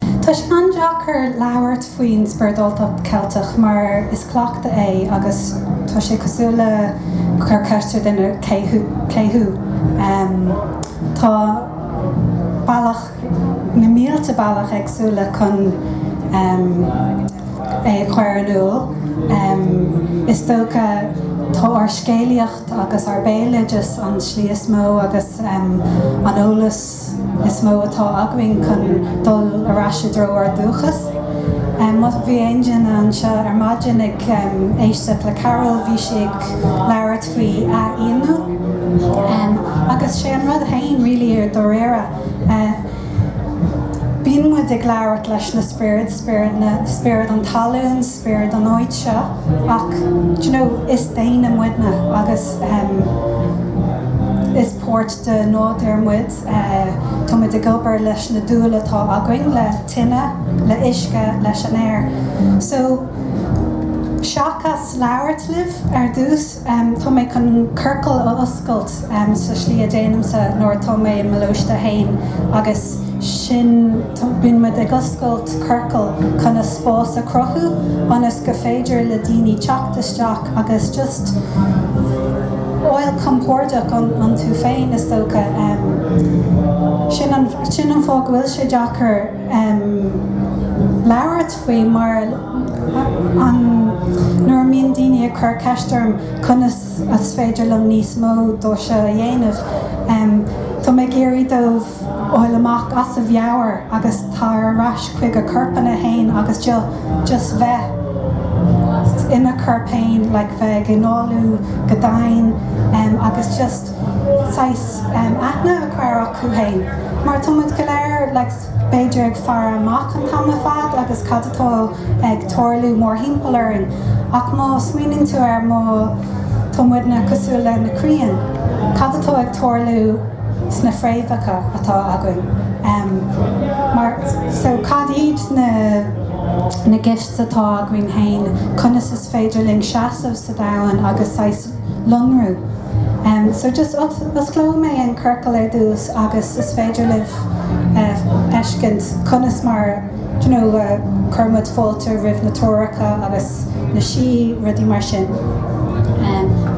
Tá sé an-deacair labhairt faoin spioradáltacht Cheilteach mar is cleachtadh é agus tá sé cosúil le cur ceist ar dhuine cé thú. Tá bealach, na mílte bealach éagsúla chun é a chur in iúl. Is dócha tá ár scéalaíocht agus ár béaloideas an tslí is mó agus an eolas. is mó atá againn chun dul ar ais i dtreo ár dúchas. Má bhí aon duine anseo ar maidin ag éisteacht le Carol, bhí sí ag labhairt faoi athfhiainiú agus sé an rud féin really i ndáiríre. Bíonn muid ag labhairt leis na spioraid, spiorad an talún, spiorad an áit seo ach d'you know is daoine muidne agus is páirt, Den nádúr muid, tá muid ag obair leis na dúil atá againn le tine, le huisce, leis an aer. So, seachas labhairt libh ar dtús, tá mé chun ciorcal a oscailt sa slí a déanaimse nuair atá mé i mo lóiste fhéin agus sin. Bíonn muid ag oscailt ciorcal chun a spás a chruthú ionas gur féidir le daoine teacht isteach agus just fháil compordach iontu féin is dócha. Sin an fáth go bhfuil sé deacair labhairt faoi mar nuair a mbíonn daoine ag cur ceist orm conas is féidir liom níos mó de seo a dhéanamh tá mé ag iarraidh dóibh fháil amach as a mheabhair agus tar ar ais chuig a gcorpanna fhéin agus just bheith ina chorp fhéin like bheith ag análú go domhain agus just saghas aithne a chur acu fhéin mar tá muid go léir like b'fhéidir ag faire amach an t-am ar fad agus cad atá ag tarlú mórthimpeall orainn ach má smaoiníonn tú air má tá muidne cosúil le na crainn cad atá ag tarlú sna fréamhacha atá againn. Mar so cad iad na gifts atá againn féin, conas is féidir linn seasamh sa domhan agus saghas lonrú? So just osclóidh mé an ciorcal ar dtús agus is féidir libh fheiscint conas mar you know chuir muid fáilte roimh na treoracha agus na sí, rudaí mar sin.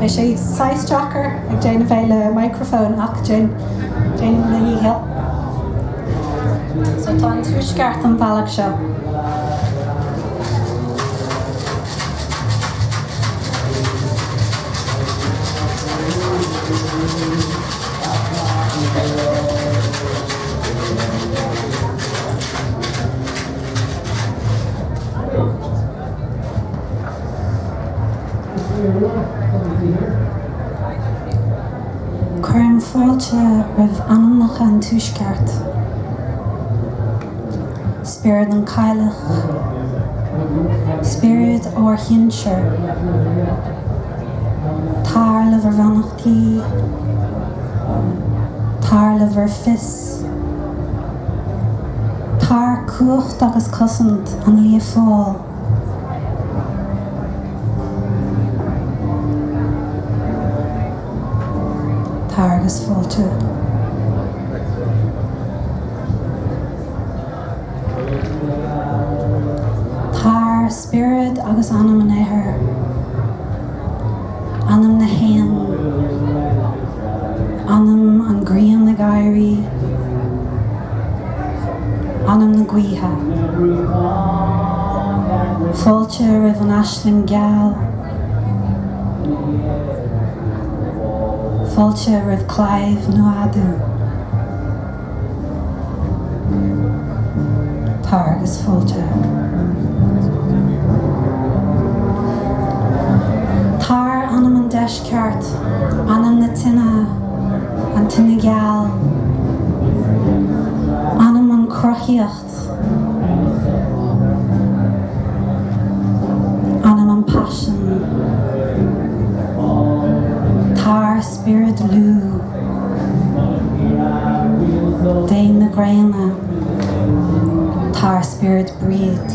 Beidh sé saghas deacair. ag déanamh é le microphone ach déanfaidh mé mo dhícheall so tá an tuaisceart an bealach seo Cuirim fáilte roimh anamacha an Tuaisceart. Spiorad an Cailleach. Spiorad ár shinsear. Tar le bhur mbeannachtaí. Tar le bhur bhfios. Tar, cumhacht agus cosaint an Lia Fáil. Tar agus fáilte. Spiorad agus Anam an Aeir, Anam na hÉan, Anam an Grian ag éirí, Anam na Gaoithe. Fáilte roimh an Aisling Geal. Fáilte roimh Claíomh Nuada. tar agus fáilte. Tar, anam an deisceart, anam na tine, an tine geal, anam an cruthaíocht. Anam an paisean. Tar, spiorad Lú. Dia na gréine. Tar, spiorad Bríd.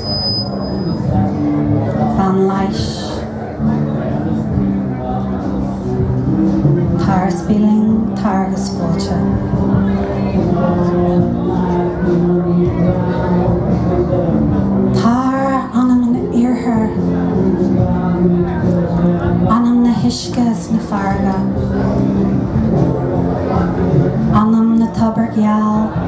Bean leighis. Tar isteach linn, tar agus fáilte. Tar, Anam an iarthair. Anam na huisce is na farraige. Anam na tobair geal.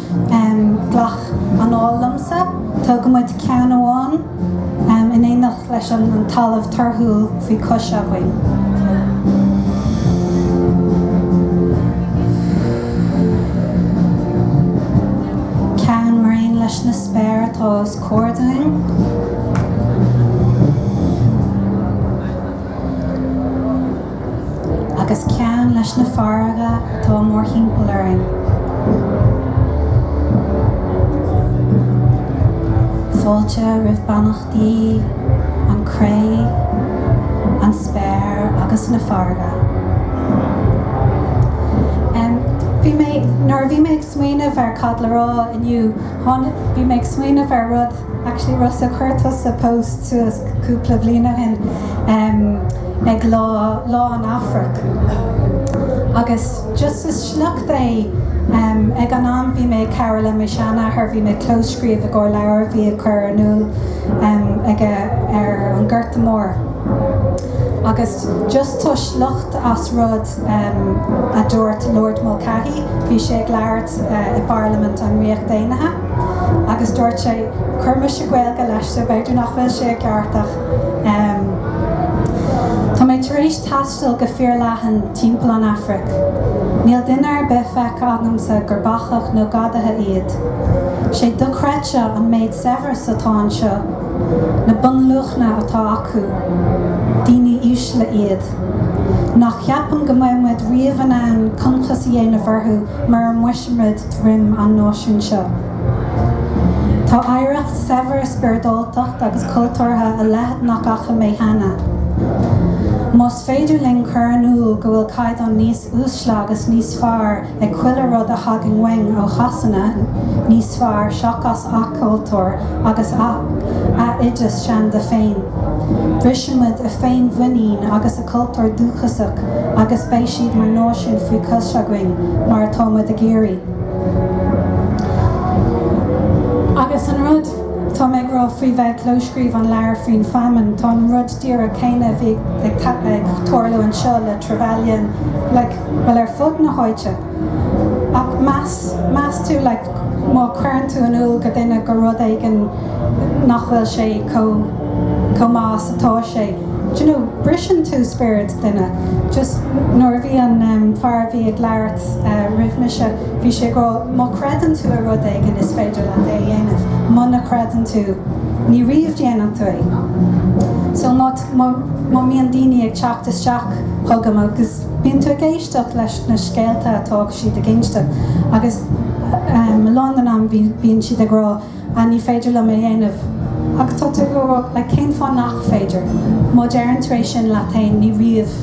Glac anáil liomsa. Tá muid ceann amháin in éineacht leis an talamh torthúil faoi cos againn. Ceann mar aon leis na spéir atá os ár gcionn. agus ceann leis na farraige atá mórthimpeall orainn. Fáilte roimh bheannachtaí an chré, an spéir agus na farraige. Bhí mé, nuair a bhí mé ag smaoineamh ar cad le rá inniu, bhí mé ag smaoineamh ar rud, Actually Rossa chuir tusa post suas cúpla bhliain ó shin em ag lá Lá an Afraic agus just is sliocht é em ag an am bhí mé ag cabhair le mo sheanathair bhí mé ag clóscríobh i gcomhair leabhar a bhí á chur in inniúint em aige ar an nGorta Mór agus just tá sliocht as rud em a dúirt Lord Mulcahy bhí sé ag labhairt eh i bParlaimint an Ríocht Aonaithe. Agus dúirt sé, chuir mise Gaeilge leis so b'fhéidir nach bhfuil sé i gceart ach ehm. tá mé tar éis taisteal go fíorleathan timpeall an Afraic, níl duine ar bith feicthe agamsa gur bacach nó gadaithe iad. Is é dochreidte an méid saibhreas atá anseo, na bunluachanna atá acu. Daoine uaisle iad. Ní cheapaim go mbeidh muid riamh in ann concas a dhéanamh orthu mura mbrisfimid dhroim an náisiúin seo. Tá oidhreacht saibhir spioradáltacht agus cultúrtha a leithead nach fhaca mé cheana. Más féidir linn cur in iúl go bhfuil caighdeán níos uaisle agus níos fearr ag chuile rud a thagann uainn ó Shasana, níos fearr seachas a gcultúr agus a n-oideas seanda féin, brisimid a féin-mhuinín agus. cultúr dúchasach agus beidh siad mar náisiún faoi chois againn mar atá muid ag iarraidh. Agus an rud atá mé ag rá faoi bheith ag clóscríobh an leabhar faoin famine, tá an rud díreach céanna a bhí ag tarlú anseo le Trevelyan, like, bhuel, ar fud na háite. Ach meas, meas tú, like, má chuireann tú in iúl go duine go rud éigin nach bhfuil sé chomh, chomh maith is atá sé, d'you know, briseann tú spiorad duine. Just nuair a bhí an, em, fear a bhí ag labhairt, eh, roimh mise, bhí sé ag rá, má chreideann tú i rud éigin, is féidir leat é a dhéanamh, muna chreideann tú, ní riamh déanfaidh tú é. So má, má, má mbíonn daoine ag teacht isteach chugam agus. Bíonn tú ag éisteacht leis na scéalta atá siad ag inste agus a lán den am bíonn siad ag rá 'ah, ní féidir liom é dhéanamh'. Agus tá tú ag rá 'like, cén fáth nach féidir? Má deireann tú é sin leat féin ní riamh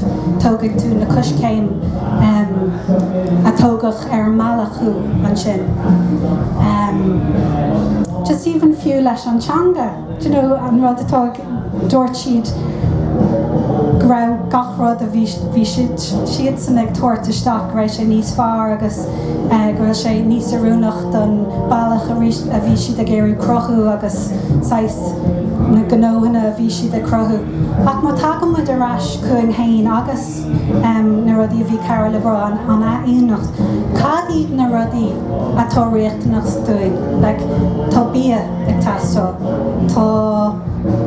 tógfaidh tú na coiscéim a thógfadh ar an mbealach thú ansin. Just even fiú leis an teanga, do you know, an rud atá ag. Dúirt siad go raibh gach rud a bhí siadsan ag tabhairt isteach, go raibh sé níos fearr agus go bhfuil sé níos oiriúnaí don bhealach a bhí siad ag iarraidh cruthú agus saghas na gnóthanna a bhí siad ag cruthú. Ach má tagann muid ar ais chugainn féin agus. na rudaí a bhí comhair le brá an ionannacht cad iad na rudaí atá riachtanach dúinn like tá bia ag teastáil tá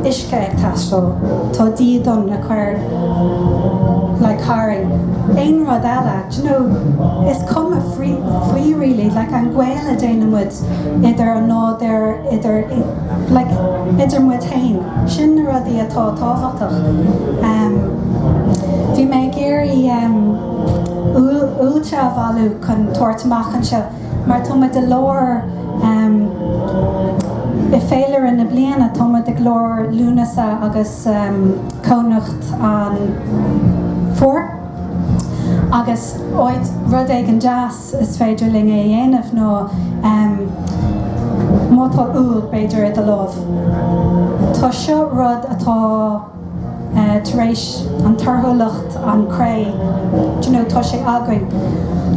uisce ag teastáil tá dídean le cur like tharainn aon rud eile you know is cuma faoi faoi really like an gaol a déanann muid idir an nádúr idir like idir muid féin sin na rudaí atá tábhachtach um. Bhí mé ag iarraidh úllaí a bhailiú chun tabhairt amach anseo mar tá muid i lár i bhféilire na bliana, tá muid i lár Lúnasa agus cónocht an Fhómhair agus rud éigin deas is féidir linn é a dhéanamh ná má tá úll b'fhéidir i do lámh, tá seo rud atá. tar éis an torthúlacht an chré do you know tá sé againn.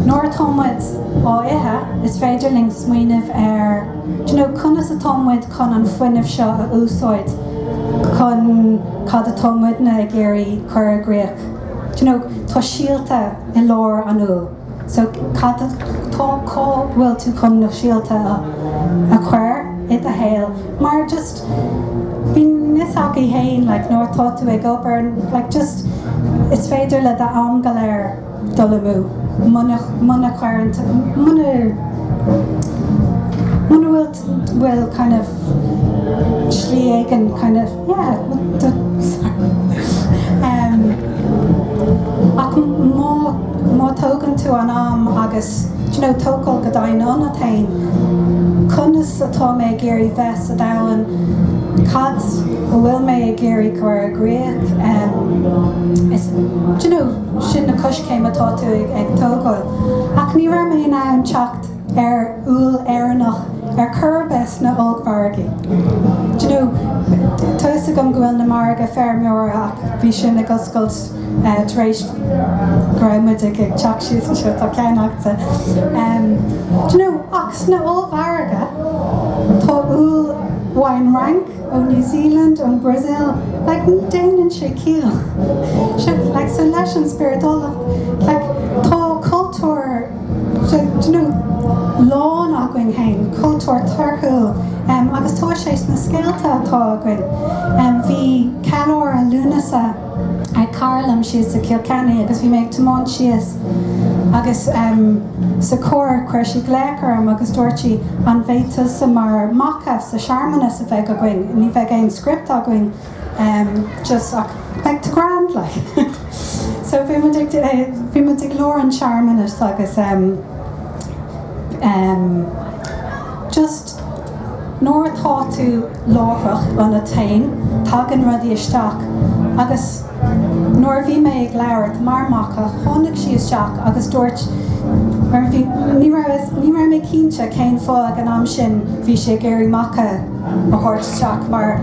Nuair atá muid á ithe, is féidir linn smaoineamh ar conas atá muid chun an fuinneamh seo a úsáid chun cad atá muidne ag iarraidh cur i gcrích. Tá síolta i lár an úll. So cad atá cá bhfuil tú chun na síolta a chur i do shaol mar just bíonn fhios agat féin like nuair atá tú ag obair like just is féidir le do am go léir dul amú muna muna cuireann tú muna muna bhfuil bhfuil kind of slí éigin kind of yeah ach má má tógann tú an am agus you know tógáil go domhain ionat féin conas atá mé ag iarraidh bheith sa domhan cad a bhfuil mé ag iarraidh cur i gcrích is you know sin na coiscéim atá tú ag tógáil ach ní raibh mé in ann teacht ar úll Éireannach ar chor ar bith sna h-ollmhargaí. Do you know, tá 'fhios agam go bhfuil na margaidh feirmeora ach bhí sin ag oscailt tar éis go raibh muid ag teacht síos anseo, tá ceannaithe. Em, do you know, ach sna h-ollmhargaidh tá úll ón Fhrainc, ón New Zealand, ón Brazil, like ní déanann sé ciall. So, like so leis an spioradáltacht, like tá cultúr, Tá lán againn féin cultúr torthúil agus tá sé sna scéalta atá againn. Bhí ceiliúradh Lúnasa ag cara liom thíos i gCill Chainnigh agus bhí mé ag tiomáint síos agus sa charr chuir sí glaoch orm agus dúirt sí an mbeifeása mar Macha sa searmanas a bheidh againn, ní bheidh aon script againn, em, just, ach beidh tú grand, like. so bhí muid ag, eh, bhí muid ag lár an tsearmanais agus em, em, just nuair atá tú láithreach an a tain, tagann rudaí isteach agus nuair a bhí mé ag labhairt mar Macha tháinig sí isteach agus dúirt mar bhí ní raibh is- ní raibh mé cinnte cén fáth ag an am sin bhí sí ag iarraidh Macha a thabhairt isteach mar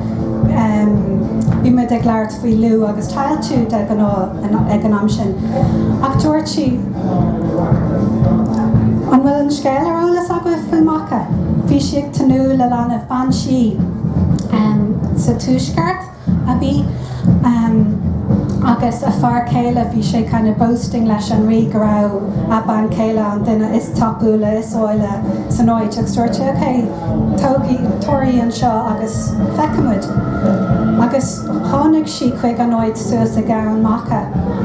bhí muid ag labhairt faoi Lú agus Tailtiu de ghnáth ag an am sin. Ach dúirt sí, An bhfuil an scéal ar eolas agaibh faoi Macha? Bhí sí ag tnúth le leanbh, bean sí sa tuaisceart. a bhí ann agus a fear céile, bhí sé kind of boasting leis an Rí go raibh a bean chéile an duine is tapúla, is áille san áit agus dúirt sé ok, tógaigí, tabhair í anseo agus feicfimid. Agus tháinig sí chuig an áit suas in Eamhain Macha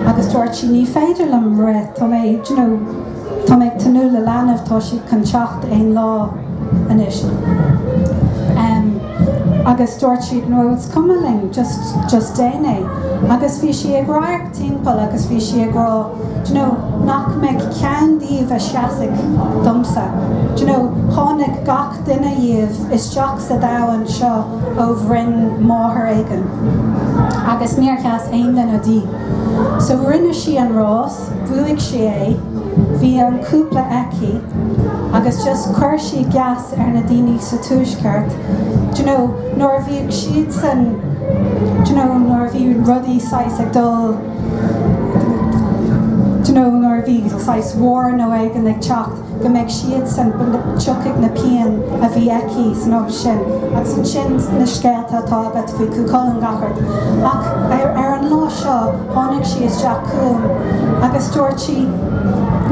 agus dúirt sí ní féidir liom rith, tá mé, d'you know, Tá mé ag tnúth le leanbh, tá siad chun teacht aon lá anois. Em. agus dúirt siad, no, is cuma linn, just, just déan é. Agus bhí sí ag radharc timpeall agus bhí sí ag rá, d'you know, nach mbeidh ceann díobh a seasfaidh domsa. D'you know, tháinig gach duine dhíobh isteach sa domhan seo ó bhroinn máthar éigin. Agus níor sheas aon duine di. So rinne sí an rás. bhuaigh sí é, bhí an cúpla aici agus just chuir sí geas ar na daoine sa Tuaisceart d'you know nuair a bhí siadsan d'you know nuair a bhí rudaí saghas ag dul d'you know nuair a bhí saghas war nó rud éigin ag teacht go mbeidh siadsan, go dtiocfadh na pianta a bhí aici san ócáid sin agus ansin na scéalta atá agat faoi Chú Chulainn gach rud. Ach ar an lá seo tháinig sí isteach chugam agus dúirt sí,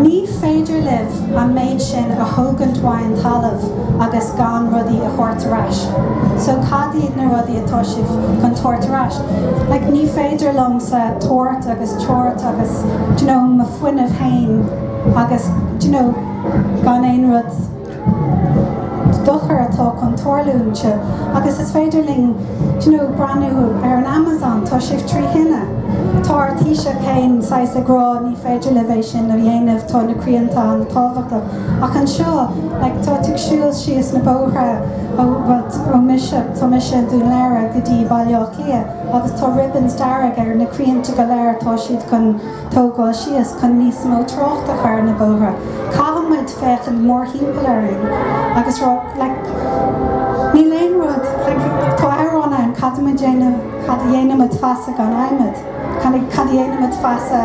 'Ní féidir libh an méid sin a thógaint ón talamh agus gan rudaí a thabhairt ar ais. So cad iad na rudaí atá sibh chun tabhairt ar ais? Like ní féidir liomsa tabhairt agus tabhairt agus do you know mo fuinneamh fhéin, Agus, do you know, gan aon rud, dochar atá chun tarlúinte, agus is féidir linn, do you know, breathnú ar an Amazon, tá sibh trí thine, tá ár Taoiseach féin saghas ag rá ní féidir libh é sin a dhéanamh, tá na crainnte an-tábhachtach. Ach anseo, like, tá tú ag siúl síos na bóithre ó, well, ó mise, tá mise i nDún Laoghaire go dtí Baile Átha Cliath, agus tá ribbons dearg ar na crainnte go léir, atá siad chun, tógáil síos, chun níos mó trácht a chur ar na bóithre, caithfidh muid féachaint mórthimpeall orainn agus rá like níl aon rud like tá amhrán ann caithfidh muid déanamh cad a dhéanfaidh muid feasta gan adhmad kind of cad a dhéanfaidh muid feasta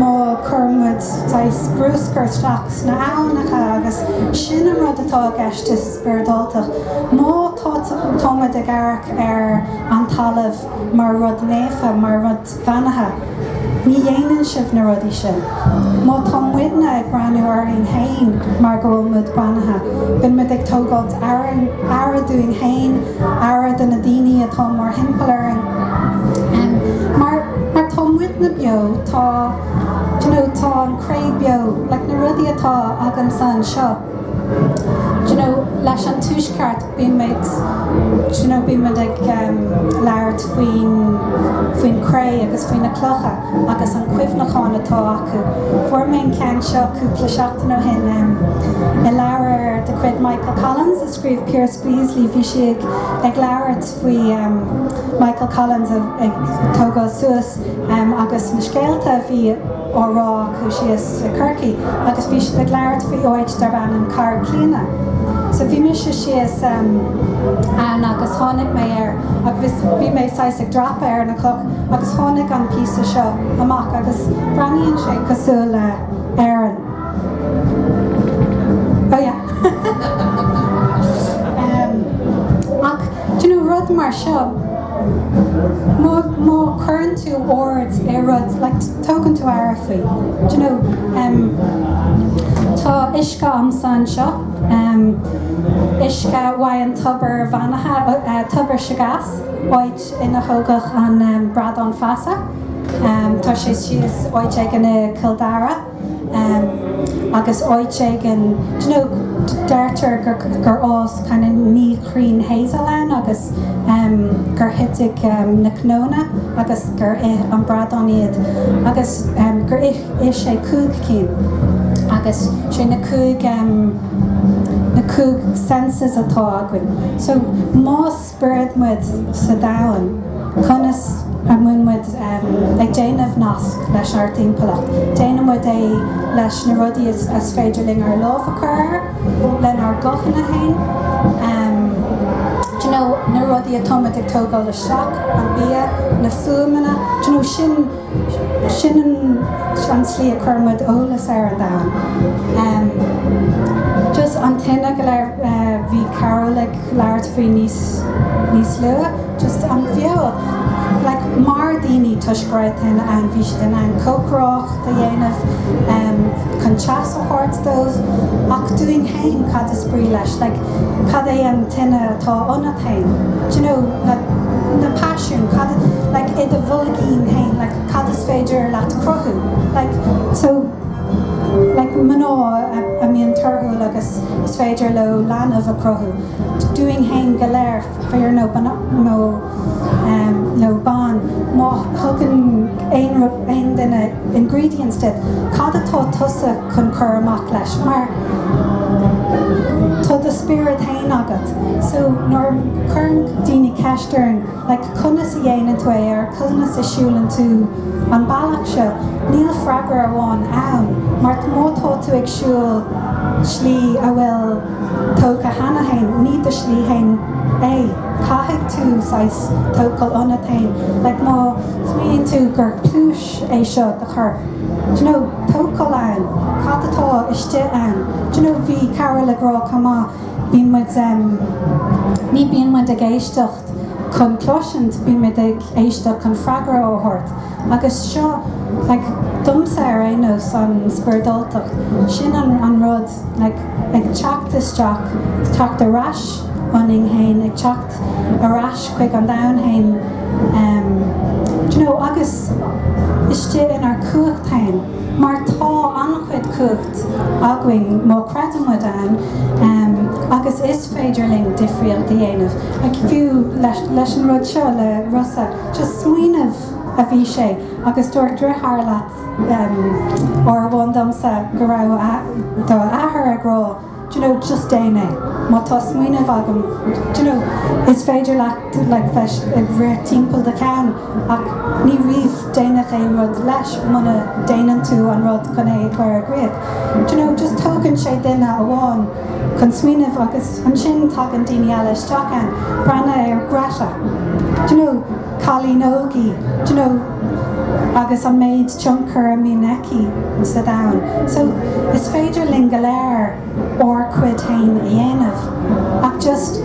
má chuireann muid saghas bruscar isteach sna haibhneacha agus sin an rud atá i gceist le spioradáltacht má tá tá muid ag amharc ar an talamh mar rud naofa mar rud bheannaithe, ní dhéanann sibh na rudaí sin. Má tá muidne ag breathnú orainn féin mar go bhfuil muid beannaithe, bíonn muid ag tógáilt aire dúinn féin, aire do na daoine atá mórthimpeall orainn. Mar tá muidne beo, tá an chré beo, na rudaí atá agamsa anseo. you know leis an tuaisceart bímid you know bímid ag labhairt faoin faoin chré agus faoi na clocha agus an cuimhneachán atá acu fuair mé an ceann seo cúpla seachtain ó shin um, i leabhar de chuid Michael Collins a scríobh Piaras Béaslaí bhí sé ag ag labhairt faoi um, Michael Collins ag tógáil suas agus na scéalta a bhí á rá acu síos i gCorcaigh agus bhí siad ag labhairt faoi áit darb ainm Carraig Clíodhna. So bhí mise síos ann agus tháinig mé air agus bhí mé saghas ag dreapadh ar an gcloch agus tháinig an píosa seo amach agus breathnaíonn sé cosúil le hÉirinn. Oh yeah. Ach you know, rud mar seo, má, má chuireann tú ord ar rud, like, tógann tú aire faoi, do you know, em, tá uisce agamsa anseo, em, uisce uaidh an tobar bheannaithe, eh, tobar Segais, áit ina thógadh an, em, Bradán Feasa, em, tá sé síos áit éigin i gCill Dara. agus áit éigin you know deirtear gur fhás kind of naoi gcrann hazel ann agus gur thitfeadh na cnónna agus gur ith an bradán iad agus gur ith sé cúig cinn agus sé na cúig na cúig senses atá againn so más spiorad muid sa domhan, conas a mbíonn muid ag déanamh nasc leis ár dtimpeallacht. Déanann muid é leis na rudaí is féidir linn ár lámh a chur air, lenár guthanna féin, na rudaí atá muid ag tógáil isteach, an bia, na fuaimeanna, sin. Sin an tslí a chuir muid eolas ar an domhan. Just an tine go léir bhí Carol ag labhairt faoi níos luaithe. Just an fheoil. Like mar daoine toisc go raibh tine ann bhí siad in ann cócaireacht a dhéanamh chun teas a thabhairt dóibh. Ach dúinn féin cad is brí leis? Like. cad é an tine atá ionat féin? d'you know na na paisiúin cad a like i do bhoilgín féin like cad is féidir leat cruthú like so like mná a mbíonn torthúil agus is féidir leo leanbh a cruthú dúinn féin go léir fear nó nó nó ban. Má thugann aon rud, aon duine ingredients duit, cad atá tusa chun cur amach leis? Mar tá do spiorad fhéin agat. So nuair a chuireann daoine ceist orainn like conas a dhéanann tú é or conas a siúlann tú an bealach seo, níl freagra amháin ann mar má tá tú ag siúl slí a bhfuil. tógtha cheana féin, ní do shlí féin é. Caithfidh tú saghas tochailt ionat féin, like má smaoiníonn tú gur pluais é seo do chorp, do you know, tochailt ann, cad atá istigh ann. Do you know, bhí Carol ag rá chomh maith, bíonn muid, ní bíonn muid ag éisteacht chun cloisint, bíonn muid ag éisteacht chun freagra a thabhairt. Agus seo, like, domsa ar aon nós, an spioradáltacht, sin an, an rud, like, ag teacht isteach, teacht ar ais ionainn fhéin, ag teacht ar ais chuig an domhan fhéin, em, d'you know, agus istigh inár cumhacht fhéin, mar tá an-chuid cumhacht againn má chreideann muid ann, em, agus is féidir linn difríocht a dhéanamh, like, fiú leis, leis an rud seo le Rossa. Just smaoineamh a bhí sé agus dúirt deartháir leat uair amháin domsa go raibh do athair ag rá d'you know just déan é, má tá smaoineamh agat d'you know is féidir leis like bheith ag rith timpeall do cheann ach ní riamh déanfar aon rud leis muna déanann tú an rud chun é a chur i gcrích. D'you know just tógann sé duine amháin. chun smaoineamh agus ansin tagann daoine eile isteach, breathnaigh ar Greta, you know, cailín óg í, you know, agus an méid tionchair a mbíonn aici sa domhan. So is féidir linn go léir ár cuid féin a dhéanamh ach just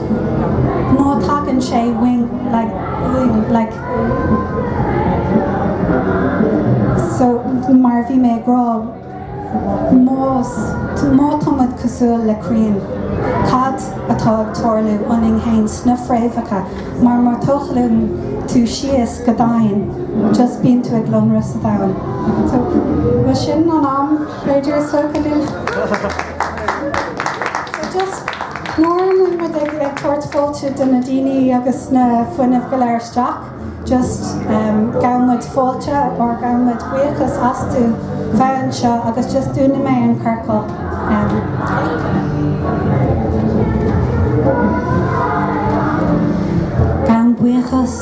má tagann sé uainn like, uainn, like, so mar bhí mé ag rá Má tá muid cosúil le crainn, cad atá ag tarlú ionainn fhéin sna fréamhacha mar má tochlaíonn tú síos go domhain, just bíonn tú ag lonradh sa domhan. So, bhuel sin an am, b'fhéidir is dócha linn. So just mar a mbíonn muid ag tabhairt fáilte do na dúile agus na fuinnimh go léir isteach, just gabhann muid fáilte or gabhann muid buíochas astu bheith anseo agus just dúnfaidh mé an ciorcal gabhann buíochas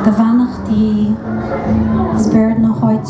do, beannachtaí spiorad na háite.